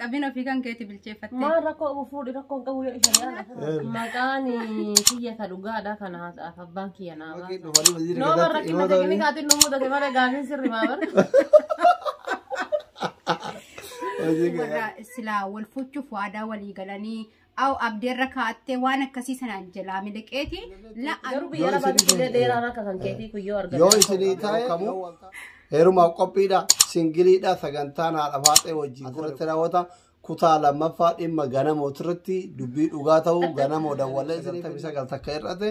Qabin ofii kan keeti bilcheeffattee. Maal rakkoo qabu fuudhi rakkoo hin qabu yoo ishee yaala. Maqaan kiyya ka dhugaadha kana haasa'aaf abbaan kiyya naa baasa. Dhumarri waziri Noo keessatti barrakkina himata ta'e waliin. kaatiin nu mudate malee gaafiin sirri maa bara. Waziri keessatti. Warra silaa wal fuuchuuf waadaa walii galanii Aw abdeerra kaa'attee waan akkasii sanaan jalaa miliqeeti la Garuu biyya lafaa biqilee dheeraan akka kan keetii kun yoo argate. Yoo isinii ta'e kamuu heerumaaf qophiidha. Singiliidha sagantaan haadha faaxee wajjin asirratti raawwata. Kutaa lammaffaa dhimma ganamoo irratti dubbii dhugaa ta'uu ganamoo dawwalee 99 takka irratti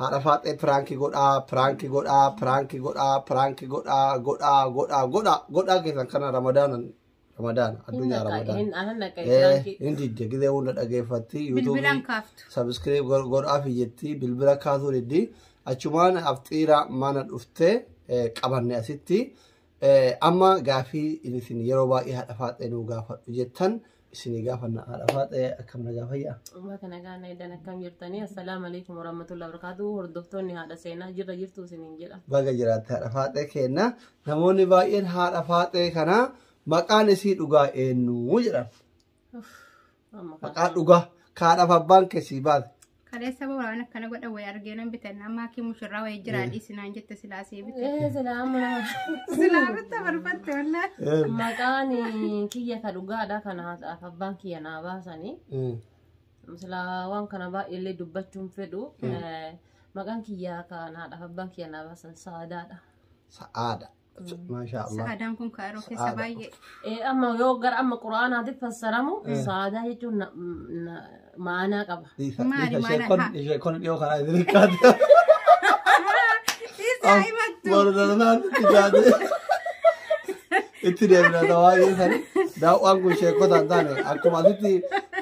Haadha faaxee piraanki godhaa piraanki godhaa piraanki godhaa piraanki godhaa godhaa godhaa godhaa godhaa keessan kana ramadaanan ramadaana addunyaa ramadaana. Hin anan naqee Eh, jiraankii. hin didde gizee hunda dhageeffatti Bilbilaan yuutuubii kaaftu. sabiskiriib godhaafi jetti bilbila kaasuu diddi achumaan afxiira mana dhufte eh, qabanne asitti Amma gaafii isin yeroo baay'ee haadha faaxee nuu gaafadhu jettan isinii gaafanna haadha faaxee akkam nagaa fayyaa. Uummata nagaa naayidhaan akkam jirtanii assalaamu alaikum warahmatullahi wabarakatuh hordoftoonni haadha seenaa jirra jirtu isiniin jedha. Baga jiraatte haadha faaxee keenna namoonni baay'een haadha faaxee kana maqaan isii dhugaa eenyu jedhan. Maqaa dhugaa kaadhaaf abbaan kee sii baase. Kaleessa boo waan akkana godha wayii argee nan bitan amma akki mushurraa wayii jiraa dhiisinaan jette silaa sii bite. Ee silaa amma nama Silaa bitta barbatte wallee. maqaan kiyya ka dhugaadha kana haasa'aaf abbaan kiyya naa baasanii. Silaa waan kana baay'eellee dubbachuun fedhu. Eh, Maqaan kiyya kanaadhaaf abbaan kiyya naa baasan saadaadha. Sa'aada. Maashaa Allah. Sa'aadaan kun kaaroo keessa Sa'aada. baay'ee. Eh, amma yoo gara amma quraanaatiif fassaramu saadaa jechuun na- na- ma'anaa qaba. Dhiisa, Maali, dhiisa, ishee maala kun- haa. ishee kun dhiyoo kanaa isin hirkaate. Dhiirsaa himattu. Mordalaan itti jaate. Itti deemna ta'aa keessani. Daawwaan kun sheekota hin taane akkuma asitti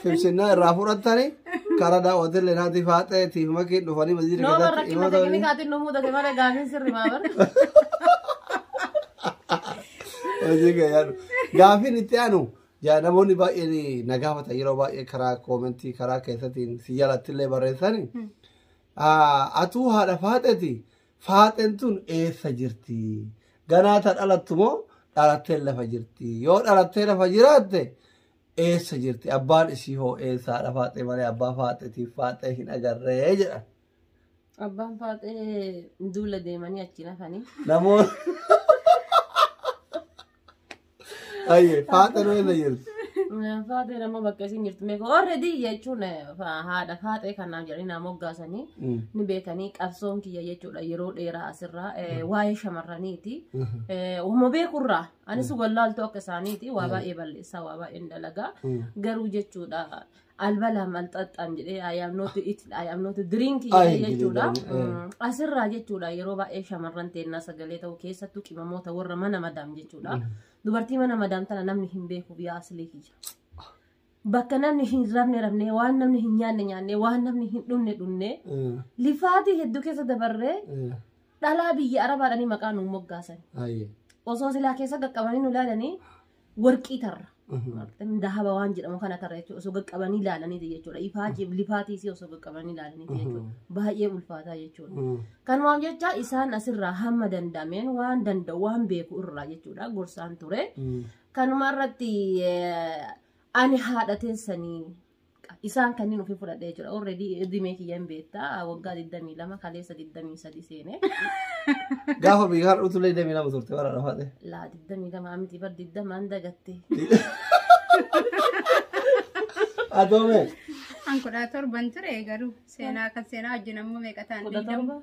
fibsinnaa irraa fudhattani Kara daawwatin le naati faaxee tiif makii dhufanii masjiida Noo keessatti barrakkina imata waliin. tekinikaatiin nu mudate malee gaafiin sirri maa bara. Hojii gayyaadhu. Gaafiin itti aanu yaa namoonni baay'een na gaafatan yeroo baay'ee karaa koomentii karaa keessatiin si jalatti illee barreessani. Atuu haadha faaxeeti faaxeen tun eessa jirti? Ganaa ta dhalattu moo dhalattee lafa jirti? Yoo dhalattee lafa jiraatte eessa jirti abbaan isii hoo eessaadha faaxee malee abbaa faaxeetiif faaxee hin agarree jedhan Abbaan faaxee duula deemanii achi nafanii. namoonni ayyee faaxee nu eessa jirti Faaxee nama bakka isin jirtu meeqa already jechuun eh, fa- haadha faaxee kanaaf jedhanii nama moggaasanii ni beekanii qabsoon kiyya jechuudha yeroo dheeraa asirraa eh, waa'ee shamarraniiti. Eh, Uma beekurraa Anis wallaaltuu akka isaaniiti waa baay'ee balleessaa waa baay'een dalagaa garuu jechuudha albalaa malxaxxaan jedhee ayaamnooti itti ayaamnooti diriinkii Ay, jedhee jechuudha. jedhee, eh. Mm, Asirraa jechuudha yeroo baay'ee shamarran teennaa sagalee ta'uu keessattuu qimamoota warra mana madaam jechuudha. Dubartii mana madaam tana namni hin beeku biyya asilii kiyya. bakka namni hin rabne rabne waan namni hin nyaanne nyaanne waan namni hin dhunne dhunne Eh, lifaatii hedduu keessa dabarree eh, dhalaa biyya arabaadhanii maqaa nu moggaasan aye. osoo silaa keessa qaqqabanii nu ilaalanii warqii tarra Mhm. dahaba waan jedhamu kana tarra jechuudha osoo qaqqabanii ilaalaniiti jechuudha ifaatiif lifaatiisii osoo qaqqabanii ilaalaniiti jechuudha baay'ee ulfaataa jechuudha. Mm. Kanumaaf jecha isaan asirraa hamma danda'ameen waan danda'u waan beeku irraa jechuudha gorsaan ture. Mm. Kanuma irratti ani haadha teessanii isaan kanneen ofii fudhadhee jira. Already dhimee kiyya hin beektaa waggaa 22 kaleessa 23 seenee. Gaafa biyya har'a utulee deemee nama turte bara dhafaate. Laa 22 miti bar 20 an dagatte. Adoome. An kudha torban ture garuu seenaa kan seenaa wajjin ammoo meeqa ta'an Kudha digdama. torba.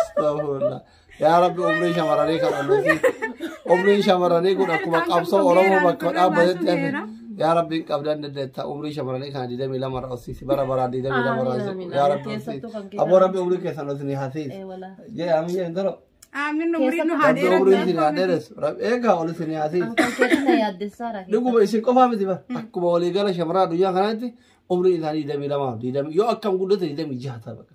Astaghfirullah. Yaa Rabbi umrii shamarranii kan ooluufi umrii shamarranii kun akkuma qabsoo Oromoo bakka dhaabbatetti hafe. Yaa Rabbi hin qabdan dandeetta umrii shamarranii kana digdamii lama irra hossisi bara baraa digdamii lama irra hossisi. Yaa Rabbi hossisi. Aboo Rabbi umrii keessan hossini hasiisi. Jee amma jeen toro. Aamin umriin nu haa Rabbi umrii dheeratu. isin haa dheeressu. Rabbi eegaa ol isin haa hasiisi. Dhuguma isin qofaa miti bara. Akkuma waliigala shamarraa addunyaa kanaatti umrii isaanii digdamii lama digdamii yoo akkam guddate digdamii jaha ta'a bakka.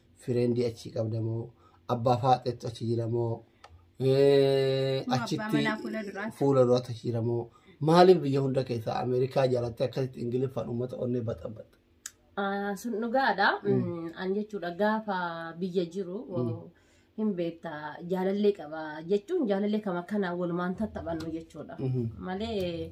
Fireendii achii qabda moo? Abbaa faaxeetu achi jira moo? Eh, Moo abbaa Achitti manaa fuula duraati? fuula duraatu achi jira moo? Maaliif biyya hunda keessaa Ameerikaa jaalattee akkasitti Ingiliffaan uummata onnee baxabaxa? Ah, sun dhugaadha. Mm, An jechuudha gaafa biyya jiru hin beekta jaalallee qaba jechuun jaalallee kama kanaan walumaan tattaphannu jechuudha. Mhm. Malee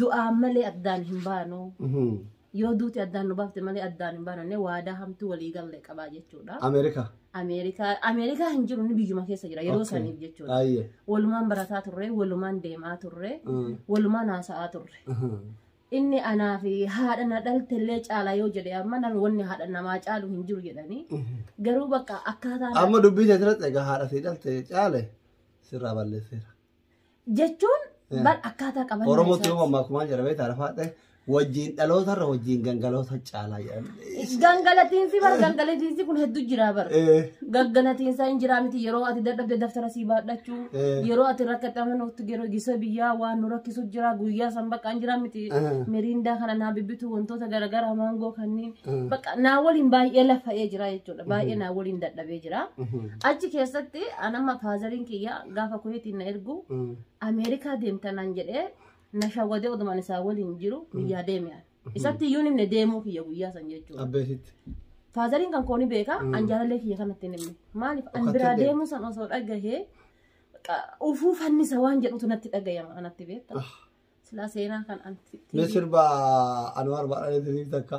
Du'aan malee addaan hin baanu. Yoo duuti addaan nu baafte malee addaan hin baanu jennee waadaa hamtuu walii galle qabaa jechuudha. Ameerikaa. Ameerikaa Ameerikaa hin jiru inni biyyuma keessa jira yeroo Okay. saniif jechuudha. Ayyee. Walumaan barataa turre, walumaan deemaa turre, Mm. walumaan haasa'aa turre. Mhm. Inni anaa fi haadha na dhaltellee caala yoo jedhe amma nan wanni haadha namaa caalu hin jiru jedhanii Mhm. garuu bakka akkaataa Amma dubbii teetiratti egaa haadha sii dhalte caale sirraa balleesseera. jechuun Yeah. bar akkaataa qaban Oromootti yoo mammaa kumaan jedhamee taarfaadhe wajjin dhaloota irra wajjin gangaloota caalaa jedhamee. gangalatiinsi bar gangalatiinsi kun hedduu jira bar Eh, gangalatiinsa hin jiraa miti yeroo ati dadhabde daftara sii baadhachuu Eh. yeroo ati rakkatame nutti yeroo gisa biyyaa waan nu rakkisu jira guyyaa san bakka hin jiraa miti Eh. miriindaa kana naa bibbitu wantoota garaagaraa maangoo kanneen Eh. bakka naa waliin baay'ee lafa'ee jira jechuudha baay'ee naa waliin dadhabee jira mhm. achi keessatti anamma faazariin kiyya gaafa kuweetiin na ergu Mm. ameerikaa deemta naan jedhee na shawwadee odumaan isaa waliin jiru biyyaa deeme ani. isatti iyyuu himne deemuu kiyya guyyaa san jechuudha Abbeesitti. faazariin kan kooni beeka an jaalallee kiyya kanatti hin himne maaliif an Dhokatee biraa deema. deemuu san osoo dhagahee baqa ufuu fannisa waan jedhutu natti dhagayama anatti beekta Ah. silaa seenaa kan anti Mee sirba Anwaar Baadhalee Tiriif takka.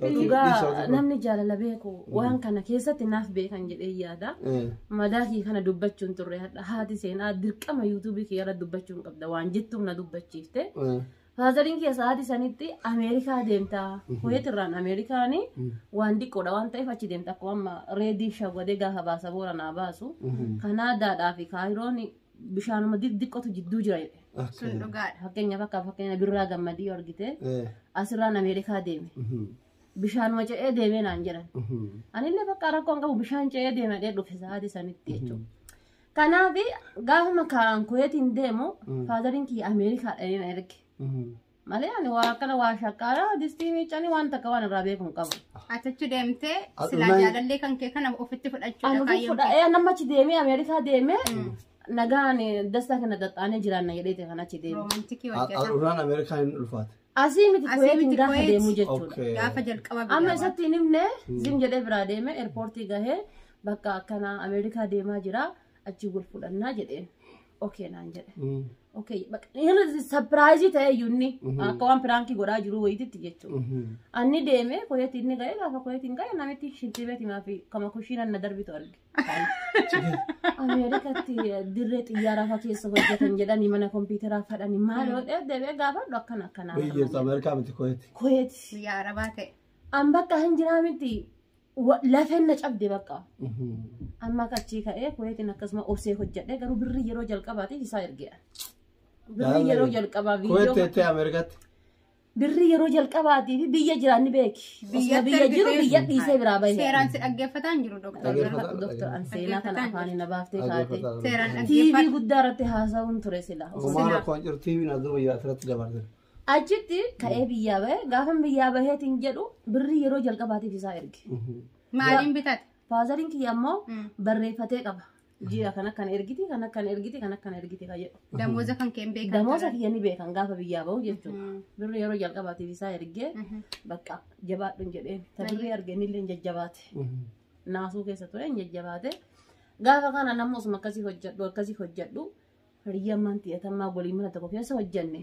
Dhugaa namni jaalala beeku waan kana keessatti naaf beekan jedhee yaada. Madaa kee kana dubbachuun turre hadha haati seenaa dirqama yuutuubii kee irra dubbachuun qabda waan jettuuf na dubbachiifte. Faazariin keessa haati sanitti Ameerikaa deemta. Kuweet irraan Ameerikaan waan diqqoodha waan ta'eef achi deemta akkuma amma reedii shawwadee gaafa baasa boora naa baasu. Kanaadaadhaa fi Kaayiroon bishaanuma xixiqqotu jidduu jira jedhe. Sun Okay. dhugaadha. Fakkeenyaaf akka fakkeenya birraa gammadii yoo argite Eh, asirraan Ameerikaa deeme. mhm, Bishaanuma ce'ee deemee naan jedhan. mhm. Anillee bakka rakkoon qabu bishaan ce'ee deema dhee dhufe sa'aatii sanitti jechuudha. Kanaaf gaafuma kaa'an kuweetiin deemu faadariin kiyya Ameerikaadha inni na erge. Mhm, Malee ani waa akkana waa shaqqaara distii miiccanii waan takka waan irraa beeku hin qabu. Atachu deemtee Adunaa- silaa jaalallee kan kee kana ofitti fudhachuudha Ani kaayyoon fudha ee nama achi deemee Ameerikaa deemee nagaan dastaa kana xaxxaanee jiraanna jedheeti kan achi deemee. roomantikii hojjeta. Adunaan Ameerikaa hin ulfaate. Asii miti Asii kuweetiin miti gaafa Kuweet. deemuu jechuudha. Okay. Gaafa jalqaba Amma biyyaa isatti hin himne zim jedhee biraa deeme eerpoortii gahee bakka akkana Ameerikaa deemaa jira achi wal fudhannaa jedheen. okay naan jedhe. Mm. Okay, bak- inni sapiraayizii ta'ee iyyuu inni akka waan piraankii godhaa jiru wayititti jechuudha. Mhm. Anni deemee koyeetti inni ga'e gaafa koyeetti hin ga'e namitti shintee beeti maafi kama kushiina na darbitu arge. Ameerikatti dirree xiyyaaraa fa'aa keessa hojjetan jedhanii mana kompiitaraa fadhanii maal yoo ta'e deebi'ee gaafadhu akkana akkanaa. Biyya jirtu Ameerikaa miti koyeeti. Koyeetti. Biyya Arabaa ta'e. An bakka hin jiraa miti. Wa- Lafeen na cabde bakka. Amma akka achii ka'ee kuweetiin akkasuma obsee hojjedhe garuu birrii yeroo jalqabaatiif isaa ergeera. Birrii yeroo jalqabaa Kuweetti viidiyoo jettee Ameerikaatti. birrii yeroo jalqabaatiif biyya jiraan ni beeki. Biyya Osoo biyya jiru ergitee- biyya dhiisee biraa bahe. Seeraan si dhaggeeffataa hin jiru doktor. Dhaggeeffataa. Doktor Anseenaa kana afaan na baaftee kaatee. Dhaggeeffataa. Seeraan TV dhaggeeffata. guddaa irratti haasa'uun ture sila. Osoo Omaana koon jiru TV na dura yaa asirratti dabarse. Achitti ka'ee biyyaa bahe gaafan biyyaa baheetiin jedhu birrii yeroo jalqabaatiif isaa erge. Maaliin bitate? Faazariin kiyya ammoo Mm. barreeffatee qaba. Ji'a kan akkan ergiti kan akkan ergiti kan akkan ergiti kan jedhu. Damooza kan keen beekan. Damoosa kiyya ni beekan gaafa biyyaa bahu jechuudha. Mm. Birrii yeroo jalqabaatiif isaa ergee Mhm. bakka jabaadhuun jedheen. Ta birrii argeenillee hin jajjabaate. Naasuu keessa ture hin jajjabaate. Gaafa kana namni osuma akkasii hojjedhu akkasii hojjedhu Hiriyyaan maantii atammaa waliin mana tokko keessa hojjanne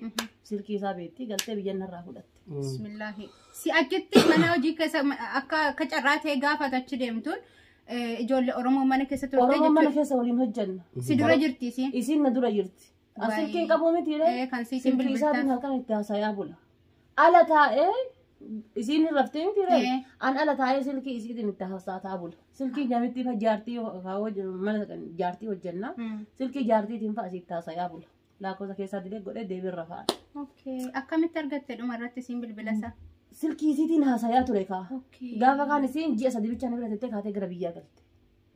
silkii isaa beektii galtee biyya narraa fudhatte. Bismillaahi. Si achitti mana hojii keessa ma- akka akka carraa ta'e gaafata achi deemtuun eh, ijoollee Oromoo mana keessa turte Oromoo mana jechuudha. keessa waliin hojjanna. Si dura jirti si. Isiin na dura jirti. As Waayee. silkiin qabuu miti Ee, kan siitiin Silkii isaatiin bilbiltan. halkan itti haasayaa bula. Ala taa'ee isiin hin raftee miti ree. Ee. An ala taa'ee silkii isiitiin itti haasa'aa bula. Silkii nyamittii fa jaartii haa hoj- mana kan jaartii hojjannaa. Mm. Silkii jaartiitiin fa asiitti haasa'aa bula. Lakkoofsa keessaa dilee godhee deebiin rafaa. Okay. Akkamitti argatte dhuma irratti isiin bilbila isaa? Silkii isiitiin haasa'aa ture kaa. Okay. Gaafa kaan isiin ji'a sadii bichaan bira tettee kaatee gara biyyaa galte.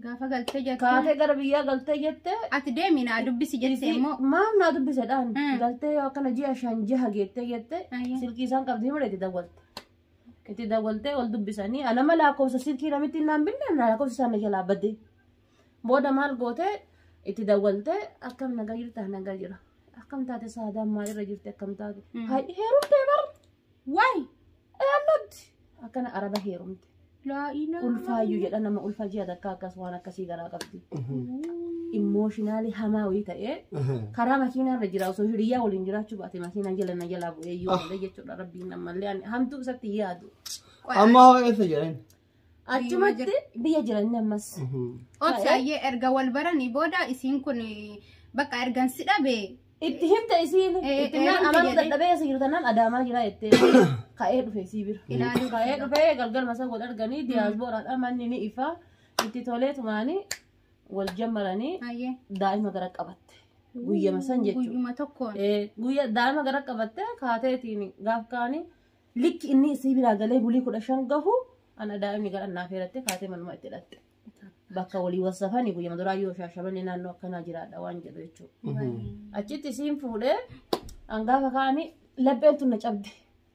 Gaafa galtee jette. Kaatee gara biyyaa galtee jette. Ati deemi naa dubbisi jette immoo. Maaf naa dubbise dhaan. Mm. Galtee yoo akkana ji'a shan jaha geettee jette. Ayya. Silkii isaan qabdi himudha itti dawwalte. Itti dawwaltee wal dubbisanii anama lakkoofsa silkii namitti naan binne na lakkoofsa isaan na jalaa badde. Booda maal gootee itti dawwaltee akkam nagaa jirta nagaa jira. Akkam taate saadaan maalirra jirti akkam taate. Mm. Haadhi heerumtee bar. Why? I am not. Akkana araba heerumte. Laa ilaa. Ulfaayyuu jedha nama ulfa ji'a takka akkas waan akkasii garaa qabdi. Immooshinaalii hamaa wayii ta'ee karaa makiinaa irra jira osoo hiriyaa waliin jiraachuu baate makiinaa jala na jalaa bu'ee yoo ta'e jechuudha rabbiin ammallee ani hamtuu isatti yaadu. Qoy, Amma hoo eessa jiran? Achumatti biyya jiran ammas. Obsaayyee erga wal baranii booda isiin kun bakka ergan si dhabe. Itti himte isiin Eh, itti eh, naan himte amanuu jedhee. dadhabee asii jiru tanaan adaamaa jira jettee ka'ee dhufe isii bira. Ilaaluu Ka'ee bira. dhufee galgal masaa wal arganii diyaasbooraadha manni ni ifa itti tolee tumaanii wal jammaranii Ayyee. daa'ima gara qabatte. Guyyama san jechuudha. Guyyuma tokkoon. Eh, Guyya daa'ima gara qabatte kaateetiin gaaf kaanii Likki inni isii biraa galee bulii kudha shan gahu ana daa'imni gara naa feerattee kaatee manuma itti dhatte. Bakka walii wasafani guyyama duraa yoo shaashabanii naannoo akkanaa jiraadha waan jedhu jechuudha. Achitti isiin fuudhee hangaafa kaanii lapheen tun na cabde.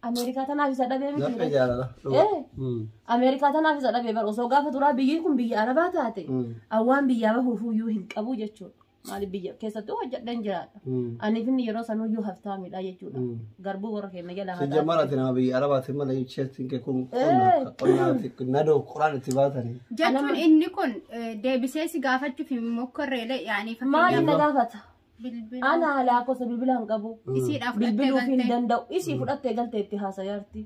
Ameerikaa tanaaf isa dhabee miti. Laphee jaalala. Eh. Mm. Ameerikaa tanaaf isa dhabee bara osoo gaafa duraa biyyi kun biyya Arabaa taate Mm. awwaan biyyaa bahuuf iyyuu hin qabu jechuudha. Maaliif biyya keessattuu hojjedhan jiraadha. Ani finni yeroo sanuu iyyuu haftaamidha jechuudha. Garbuu warra keenya jala haa Sejja mara tina bi araba ti mala yu chest ke kun konna konna ti nado quran ti batani. jechuun inni kun eh, deebisee si gaafachuuf hin mokkorreele yaanii Maaliif na fakkeenyaaf gaafata? bilbila Ana alaa kosa bilbila hin qabu. isiidhaaf Bilbiluu fi hin fudhattee danda'u. Isii fudhattee galtee itti haasayaarti.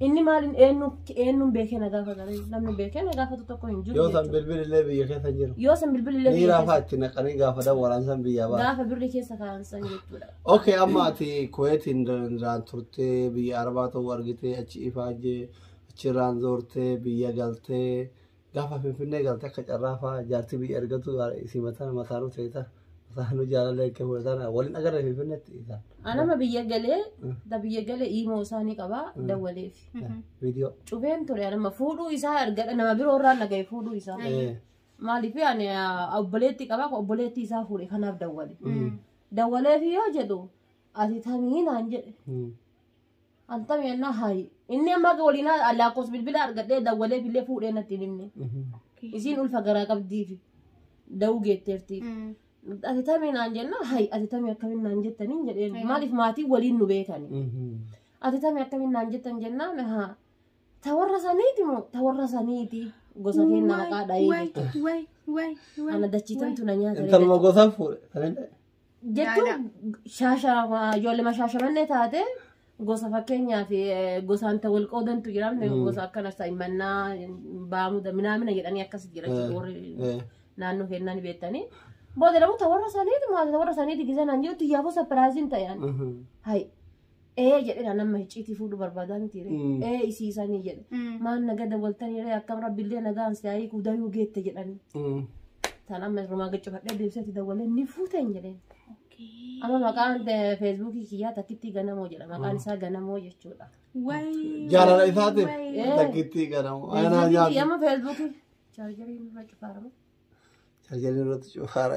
Inni maaliin eenyu eenyuun beekee na gaafata namni beekee na gaafatu tokko hin jiru. Yoo san jechuudha. bilbili illee biyya keessa jiru. Yoo san bilbilli illee Ni biyya raafaa keessa- itti naqanii gaafatan waraansan biyyaa baasa. gaafa birri keessa kaa'an san jechuudha. Okay, amma ati Kuwaitiin irraan turtee biyya Arabaa ta'uu argitee achi ifaajee achirraan zoortee biyya galtee Gaafa Finfinnee galte akka carraa fa'aa jaartii biyya ergatu isii mataan mataanuu ta'eeta. Mataanuu jaalallee akka fudhataan waliin agarre Finfinneetti isaan. Anama biyya galee da biyya galee iimoo isaa ni qabaa dawwaleef. Viidiyoo. Cubeen ture anama fuudhuu isaa argadha nama biroo irraa nagaye fuudhuu isaa. Eh, Maaliif ani ah, obboleetti qabaa kun obboleetti isaa fuudhe kanaaf dawwale. Dawwaleef yoo jedhu ati tamii naan jedhe. mm, Haltam yennaa haayi. Inni amma akka waliin haa- lakkoofsa bilbila argadhee dawwaleef illee fuudhee natti hin himne. Isiin ulfa garaa qabdiifi. Dawuu geetteerti. Ati tamii naan jenna hayi ati tamii akkamiin naan jettaniin jedheen maaliif maatii waliin nu beekani. Ati tamii akkamiin naan jettan jennaan haa ta warra saniiti moo ta warra saniiti gosa keenya haqaa dha'ee jechuudha. Ana dachiitantu na nyaata. Intaluma gosa fuudhe. jechuun shaashaa ijoollee mashaashamannee taate gosa fakkeenyaaf eh, gosaan ta wal qoodantu jira gosa akkana sa'immannaa baamuda minaamina jedhanii akkas jira jechuudha warri Eh. naannoo kennaa ni beektanii booda lamu ta warra saniiti maata ta warra saniiti gisanaan jirutti yaafuu sapiraaziin ta'an Mhm. hay ee jedhe kan amma hicciitii fuudhu barbaadaa miti ree Mm. ee isiisanii jedhe Mm. maal naga dawwaltanii ree akkam rabbillee nagaan si haayii kuudayuu geette jedhanii Mm. tan amma irrumaa gaccifadhee deebisatti dawwalee ni fuuteen jedheen Okay. amma maqaan eh, feesbuukii kiyyaa takkittii ganamoo jedha maqaan isaa ganamoo jechuudha Way. Jaalala isaatiif way. Eh. takkittii ganamu. Anaa Feesbuukii kiyya nyaatu. amma feesbuukii chaarjarii irra cufaarama Tajaajila irratti cufaara.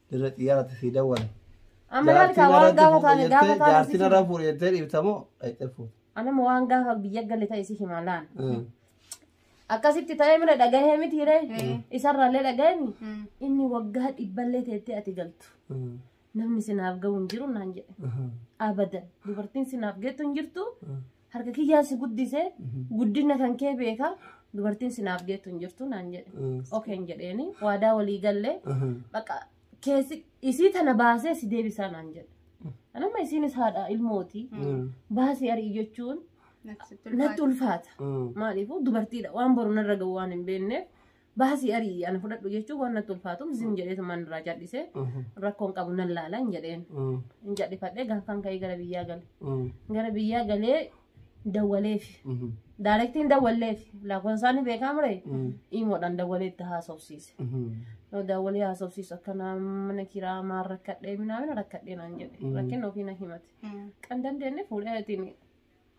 Dirree xiyyaaraatti sii dawwale. Amma laal kaa waan gaafa taane gaafa taane Jaartiin sitti irraa fuudhe jettee dhiibtamoo dhaqxee fuute. anama waan gaafa biyya galle ta'e si hima laal. Mm. Akkasitti ta'ee mira dhagahee miti hiree isarraallee dhagahemi inni waggaa dhibballee teettee ati galtu Mm. namni sinaaf ga'u hin jiru naan jedhe. Mhm. Abadan dubartiin sinaaf geettu hin jirtu harka kiyyaan si guddise guddina kan kee beeka dubartiin sinaaf deettu hin jirtu naan jedhe okeen jedheeni waadaa walii galle baqa keessi isii tana baasee si deebisaa naan jedhe anamma isiinis haadha ilmooti baasii arii jechuun natti ulfaata maaliifuu dubartiidha waan boru narra ga'u waan hin beekneef baasii ari'i ana fudhadhu jechuun waan natti ulfaatuuf zim jedheetu man irraa cal'ise rakkoon qabu nan laala hin jedheen hin cal'ifadhee gaafaan ka'ee gara biyyaa gale gara biyyaa galee dawwaleef daarektiin dawwalleef lakkoofsaan ni beekaa mure imoodhaan dawwalee itti haasofsiise yoo dawwalee haasofsiisu akka mana kiraa maan rakkadhee minaamina rakkadhee naan jedhe rakkina ofii na himate kan dandeenye fuudhee ittiin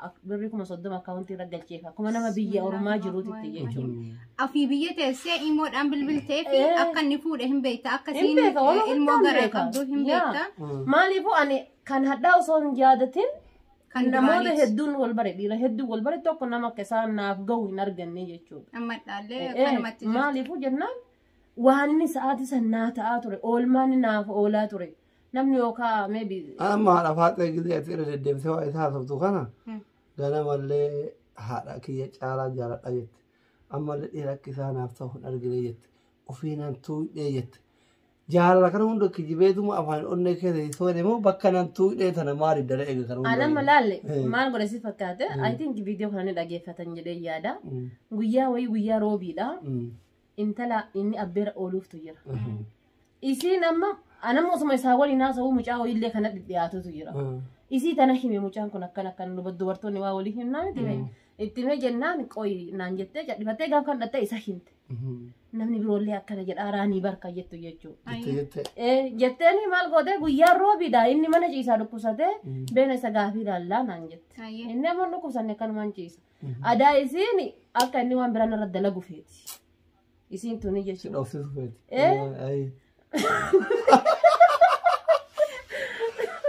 Ak- Birri kuma soddoma akkaawuntii irra galcheef akkuma nama biyya ormaa jiruutitti jechuudha. Afii biyya teessee imoodhaan bilbiltee fi Eh. akka inni fuudhe hin beekta. Akka Hin siin beeka, waan ilmoo hundaan garaa beeka. qabdu hin Yaa. beekta. Maaliifuu ani kan hadhaa osoo hin yaadatin Kan namoota duraaniiti. hedduun wal bare dhiira hedduun wal bare tokko nama akka isaan naaf gahu hin arganne jechuudha. Amma dhaallee Eh, kanumatti jirti. Maaliifuu jennaan waan inni sa'aatii san naa ta'aa ture oolmaan inni naaf oolaa ture Namni yookaa maybe Amma haadha faaxee gillee ati irra deddeebisee waa isaa haasoftu kana ganamallee haadha kiyya caalaa jaaladha jette. Ammallee dhiira akka isaa naaf ta'u hin argine jette. Ofiinaan tuudhee jette. Jaalala kana hunda kijibeetuma afaan onnee keessa hin soone moo bakka nan tuudhee tana maaliif dala eega kana hunda. anamma laalle Eh. maal godhe si fakkaate I think viidiyoo kana ni dhageeffatan jedhee yaada. Mm, Guyyaa wayii guyyaa roobiidha. mm, intala inni abbeera ooluuftu jira. Isiin amma anamma osuma isaa waliin haasa'uu mucaa wayiillee kana dhiyaatutu jira. Isii tana hime mucaan kun akkana akkana duba- dubartoonni waa walii himnaa miti bee. Itti himee jennaan qoyi naan jettee cadhifattee gaafa kan dhattee isa himte. Namni biroollee akkana jedha araanii barka jettu jechuudha. Jette jette. Eh, jetteeni maal gootee guyyaa roobiidha inni mana ciisaa dhukkubsatee beena isa gaafii ilaallaa naan jette. Hayyee. Inni ammoo dhukkubsanne akkanumaan ciisa. Adaa isiin akka inni waan biraan irra dalagu feeti. Isiin tuni Si jechuudha. dhoofsisu feeti. Eh? Ayi.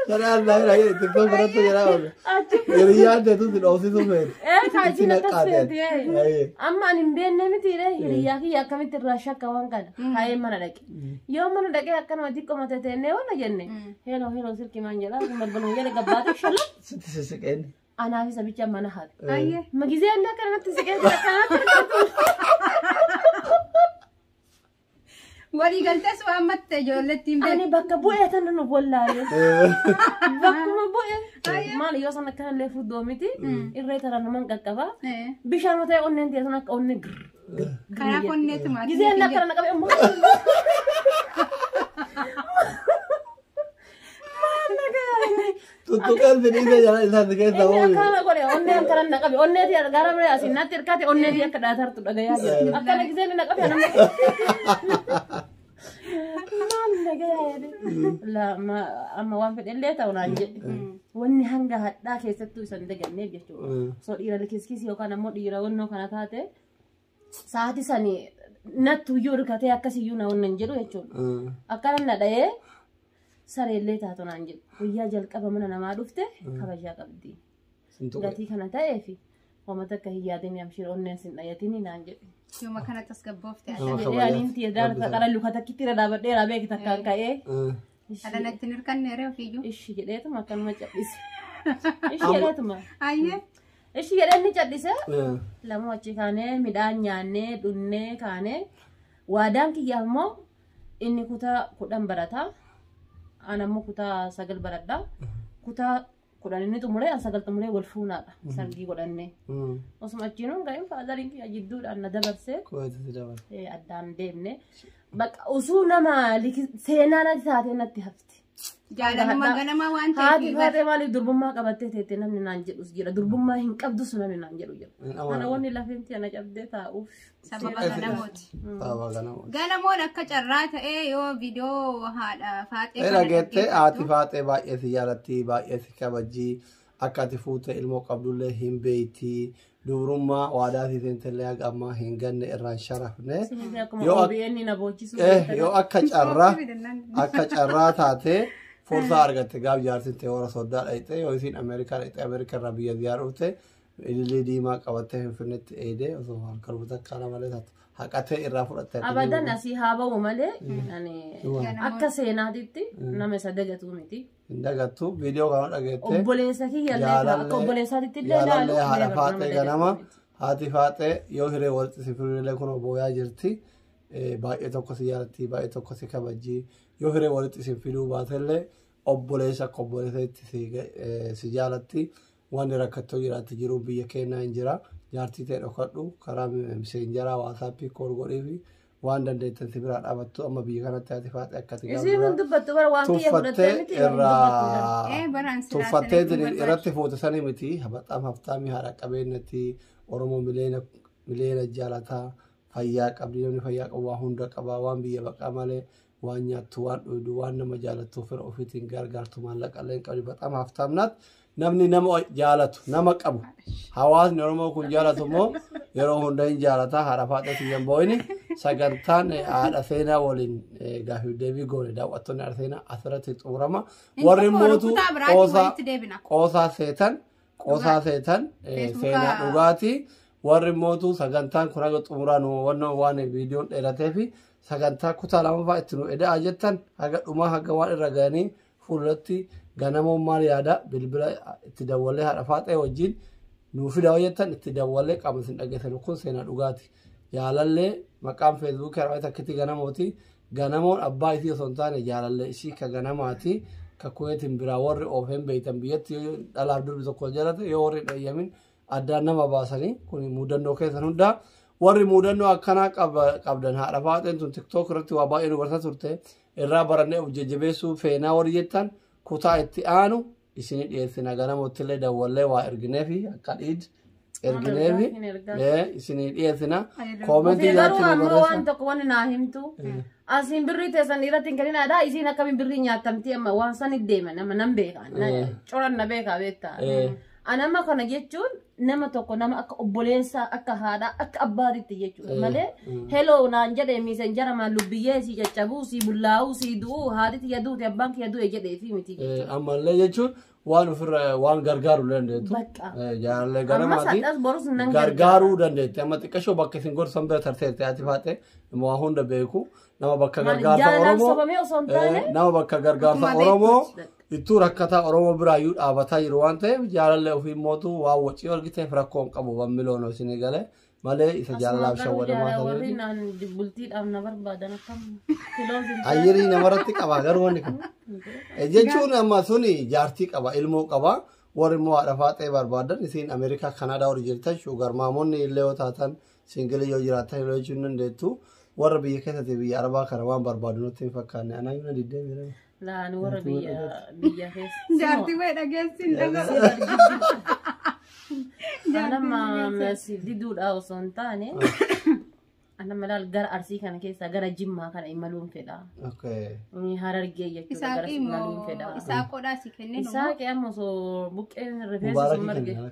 Kana allaa hin dhagee itti too biratti jedhaa oolu. Achi Hiriyyaan teetu si dhoofsisu feeti. ee Itti kaajina naqaa tasfeeti. teeti. Ayi. Amma ani hin beekne miti ree hiriyyaa kiyya akkamitti irraa shakka waan kana. Haayee mana dhaqe. Yoo mana dhaqee akkanuma xiqqoo mata teennee waan jenne. Heeloo heeloo sirki maan jedhaa kun balbaluma jala gabbaatee shalaa. Sitti sisiqeen. Anaa fi sabicha mana haadha. Ayyee. Magizee inni akkanatti si keessa akkanatti argatu. Walii galtees waan matte ijoolletti hin Ani bakka bu'ee tan nu bollaalee. Bakkuma bu'ee. Maal yoo san akkana illee fuddoo miti. Irree tara naman qaqqaba. beekne. Bishaan ta'e onneen teessan akka onnee gir. Karaa konneetu maatii. Gizee inni akkana naqabee ammoo. Tuttuqaan fedhiisa jala isaati keessa Inni ooyuu. akkana godhe onnee akkana na qabe onnee tee gara bira asiin natti hirkate onnee tee akka dhaatartu dhagayaa jira akkana gisee inni na qabe anam maal dhagayaa jedhe laa ma amma waan fedhe illee ta'u naan jedhe wanni hanga hadhaa keessattuu isan daganneef jechuudha osoo dhiira likiskiis yookaan ammoo dhiira wannoo kana taate sa'aatii sani nattu iyyuu hirkatee akkas iyyuu na onna hin jedhu jechuudha. Mm. Akkana na dhahee sareellee taatu naan jedhu. Guyyaa jalqaba mana namaa dhufte kabajaa qabdi. Sin tuqe. Gatii kana ta'ee fi uummata akka hin yaadin amshiir onneen sin dhayatin naan jedhu. Yooma kana tasgabboofte Nama Jedhee kabajaa. aliin tiya daala Rabbi takka dhala luka takkitti irra dhaabadhee irraa beeki takkaan ka'ee Mm. Ishii- Ala natti hin hirkanne ree ofiiyyuu. Ishii jedheetuma akkanuma cadhise. Ishii jedheetuma. Ayyee. Ishii jedhee inni cadhise. Eh, Lamuu achi kaanee midhaan nyaannee dhunnee kaanee waadaan kiyyaaf immoo inni kutaa kudhan barata. Aan ammoo kutaa sagal baradha. Kutaa kudhan inni xumuree al sagal xumuree wal fuunaadha sargii godhannee Mm. osuma achiin hin ga'in faadariin kiyya jidduudhaan na dabarsee Kooti si dabala. eh, addaan deemne bakka osoo nama liki- seenaa natti taatee natti hafti. Jaalaluma Haadha- ganamaa waan Haati ta'eef. faatee maaliif durbummaa qabattee teettee namni naan jedhus jira durbummaa hin qabdus namni naan jedhu jira. Hin Kana amanu. wanni lafeen tiyya na cabdee taa'uuf. sababa As- ganamooti. Sababa ganamooti. Ganamoon akka carraa ta'ee yoo viidiyoo haadha faaxee Ee kana dhageettee haati dhaggeeffattu faaxee baay'ee si jaalatti baay'ee si kabajji akka ati fuute ilmoo qabdullee hin beeyti dubrummaa waadaa si seentellee haga ammaa hin ganne irraan sharafne Sunis akkuma Yoo ak- OBN na boochisuu eh beektan. yoo akka carraa akka carraa taate fursaa argatte gaaf jaarsitte warra soddaa dhayxe yoo isiin ameerikaa dhayxe ameerikaa irraa biyya ziyaar dhufte Ilillii diimaa qabattee Finfinneetti eeydee osoo harka rukuta akka nama malee taatu haqatee irraa fudhatte. Abadan asii haa ba'u malee ani akka seenaatitti nama isa dagatuu miti. Hin dagattu viidiyoo kana dhageettee. Obboleessa kiyya illee akka Jaalallee- obboleessaatitti illee ilaalu. Jaalallee haadha never nama faaxee dagatu ganama miti. haati faaxee yoo hiree walitti si firillee kun booyaa jirti Eh, baay'ee tokko si jaalatti baay'ee tokko si kabajji yoo hiree walitti si fiduu baatellee obboleessa akka obboleessatti si ga- eh, si jaalatti Wanni rakkattoo jiraatti jiruu biyya keenyaa hin jira. Jaartii ta'e dhokadhu karaa miseenjaraa waasaappii kool godhiifi waan dandeettan si biraa dhaabattu amma biyya kanatti haati faaxee akka ati Isiin hin dubbattu bara waan kiyya fudhattee tuffattee miti hin dubbattu bara. irraa Ee baraan silaa tuffattee sanitti diri- barbaachisu. irratti fuute sanii miti habaxaam haftaamii haadha qabeenyatti oromoo miliyoona miliyoona jaalataa fayyaa qabdi namni fayyaa qabu waa hunda qabaa waan biyya baqaa malee waan nyaattu waan dhuydu waan nama jaalattu fira ofiitiin gargaartu maallaqa illee hin qabdu baxaam haftaamnaat namni nama jaalatu nama qabu hawaasni oromoo kun jaalatu immoo yeroo hunda hin jaalata haadha faadhatu hin boo'ini sagantaan eh, haadha seenaa waliin eh, gaafii deebii goone daawwattoonni haadha seenaa asirratti xumurama warri mootuu qoosaa deebina. qoosaa seetan qoosaa seetan eh, Facebooka- seenaa dhugaati warri mootuu sagantaan kun haga xumuraa nu wannoo waan viidiyoon dheeratee fi sagantaa kutaa lamaffaa itti nu eda'aa jettan haga dhumaa haga waan irra ga'anii fuulduratti ganamoon maal yaada bilbila itti dawwalee haadha faaxee wajjin nuu fidaa hojjetan itti dawwalee qaama isin dhageessan kun seenaa dhugaati jaalallee maqaan feesbuukii irraa takkitti ganamooti Ganamoon abbaa isii osoo hin taane jaalallee isii ka ganamaati ka kuweetiin biraa warri oofeen beeytan biyyatti yoo dhalaaf durbi tokko jalate yoo warri dhayyamin addaan nama baasanii kun mudannoo keessan hundaa warri mudannoo akkanaa qaba- qabdan haadha faaxeen tun tiktook irratti waa baay'ee nu barsiisaa turte irraa barannee of jajjabeessuu feenaa warri jettan kutaa itti aanu isini dhiyeessina ganamottillee dawwallee waa ergineefi akka dhiid ergineefi Hin ergaa. ee, isini dhiyeessina koomentii Ofii garuu jalatti nu ammoo waan barreessa tokko wanni naa himtu. Asiin birrii teessan irratti hin kenninaadha. Isiin akkamiin birrii nyaatamti amma waan san hin deeman amma nan beeka. Na- Coran na beeka beektaa. Ee. Ani amma kana jechuun nama tokko nama akka obboleessaa akka haadhaa akka abbaatitti jechuudha malee heloo naan jedhee miisenjara maan lubbiyyee sii caccabuu sii bullaa'uu sii du'uu haati tiyya duute abbaan kiyya du'e jedhee fi miti jechuudha. Eh, Ammallee jechuun waan ofirra waan gargaaru dandeettu. Bakka. Eh, Jaalallee Ammas ganamaati. hadhas borus nan gargaara. Gargaaruu dandeetti. Amma xiqqashoo bakka isin gorsan bira tarteetti ati faaxee waa hunda beeku. Nama bakka Maal gargaarsa jaalalaan Oromoo sobamee osoo hin taane eh, nama bakka gargaarsa Akkuma Oromoo beektutti bakka. ittuu rakkataa Oromoo biraayyuu dhaabataa jiru waan ta'eef jaalallee ofii mootu waan wacii argiteef rakkoo hin qabu waan miloon isin gale malee isa jaalalaaf shawwadamaa ta'eef. warri naan bultiidhaaf na barbaadan akkam kiloos hin taane. Ayyirii namarratti qaba garuu wanni kun. Eh, Jechuun amma suni jaartii qaba ilmoo qaba warri immoo haadha faaxee barbaadan isiin Ameerikaa Kanaadaa warri jirtan shuugar maamonni illee yoo taatan Singila yoo jiraattan ilaaluu jechuun dandeettu. Warra biyya keessatti biyya arabaa kana waan barbaadu nutti hin fakkaanne. Anaa yoo na diddee jira. Laan warra biyya biyya keessa. Jaartii wayii dhageessi hin dhagahu. Anamma masi diduudha osoo hin taane anamma laal gara arsii kana keessaa gara jimmaa kana imaluun fedha. Okay. Inni harargee jechuudha Isaa gara imaluun qimoo fedha. isaa qodhaa si kennee Isaa qe'amma osoo buqqeen rifeensa Mubaarakii sun marge. kenna.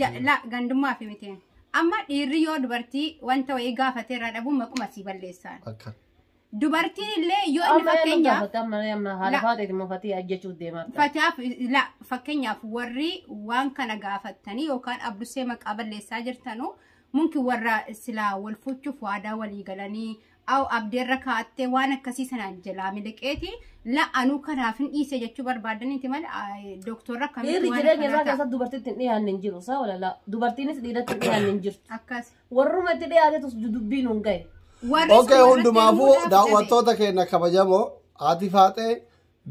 Ja- la gandummaa fi miti amma dhiirri yoo dubartii wanta wayii gaafate irraa dhabuun maquma sii balleessaan Akka. dubartiin illee yoo inni Amma eenyu fakkeenyaaf gaafata? Amma amma haadha La- faatee immoo fatii ajjechuuf deemaa jira. Fatiyaaf la fakkeenyaaf warri waan kana gaafattanii yookaan abdusee maqaa balleessaa jirtanu munki warra silaa wal fuuchuuf waadaa walii galanii Aw abdeerra kaattee waan akkasii sana jalaa miliqeeti la anuu kanaaf hin dhiise jechuu barbaadaniiti mal doktorra akkamitti Dhiirri waan jireenya isaa akkanaa ta'a. keessatti dubartiitti hin dhiyaanne hin jiru. Saa walalaa. Dubartiinis dhiiratti hin dhiyaanne hin jirtu. Akkas. Warruma itti dhiyaatetus dubbii nuun gahe. Warri Oke sun hundumaafuu warratti muudaan daawwattoota keenya kabajamoo haati faaxee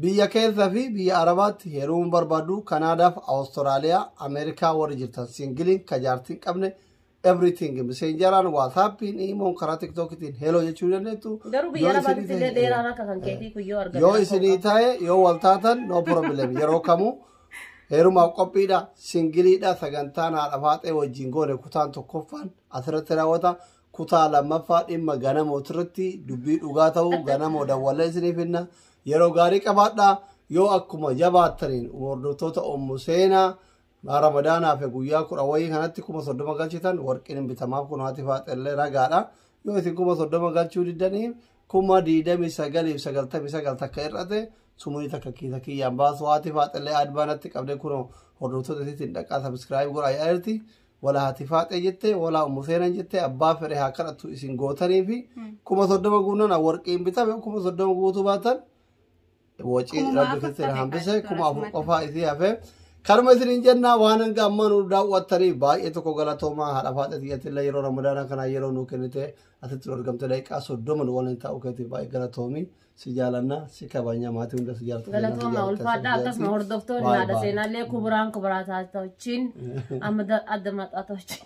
biyya keessa fi biyya arabaatti heerumuu barbaadu kanaadaaf awustiraaliyaa ameerikaa warri jirtan singiliin kajaartiin qabne everything miseenjaraan waatsaappiin iimoon karaa tiktookitiin heloo jechuu ni dandeettu Garuu biyya Yoo lafaatti isinii illee ta'e- dheeraan akka kan keetii kun yoo argame. yoo isinii ta'e yoo wal taatan no problem yeroo kamuu heerumaaf qophiidha singiliidha sagantaan haadha faaxee wajjin goone kutaan tokkoffaan asirratti raawwata kutaa lammaffaa dhimma ganamoo irratti dubbii dhugaa ta'uu ganamoo dawwallee isiniif hinna yeroo gaarii qabaadha yoo akkuma jabaattaniin hordoftoota ommu seenaa Maa Ramadaan hafe guyyaa kudha wayii kanatti kuma soddoma galchitan warqiin hin bitamaaf kun haati faaxellee ragaadha. Yoo isin kuma soddoma galchuu diddanii kuma diidamii sagaliif sagaltamii sagal takka hir'ate sumuni takka kiisa kiyyaan baasu haati faaxellee adbaa natti qabdee kunoo hordoftoota isiitiin dhaqaa sabiskiraayib godhaa yaa'eerti. Wala haati faaxee jette wala ummu seenan jette abbaa fedhe haa kadhatu isin gootanii fi kuma soddoma guunnana warqiin bitame kuma soddoma guutuu baatan Wacii Kumuma rabbi afur keessan tafe hambise kan kuma afur akkasumatti. qofaa isii hafe. Kanuma isiniin jenna waan hanga ammaa nu daawwattanii baay'ee tokko galatoomaa haadha faadha xiyyatillee yeroo ramadaanaa kanaa yeroo nu kennite asitti nu argamte daqiiqaa soddoma nu waliin taa'uu keetiif baay'ee galatoomi si jaalanna si kabanya maatii hunda si jaalatu Galatooma ulfaadhaa akkasuma hordoftoonni haadha seenaallee kuburaan kuburaa taatoochiin amma adda maxaatoochiin.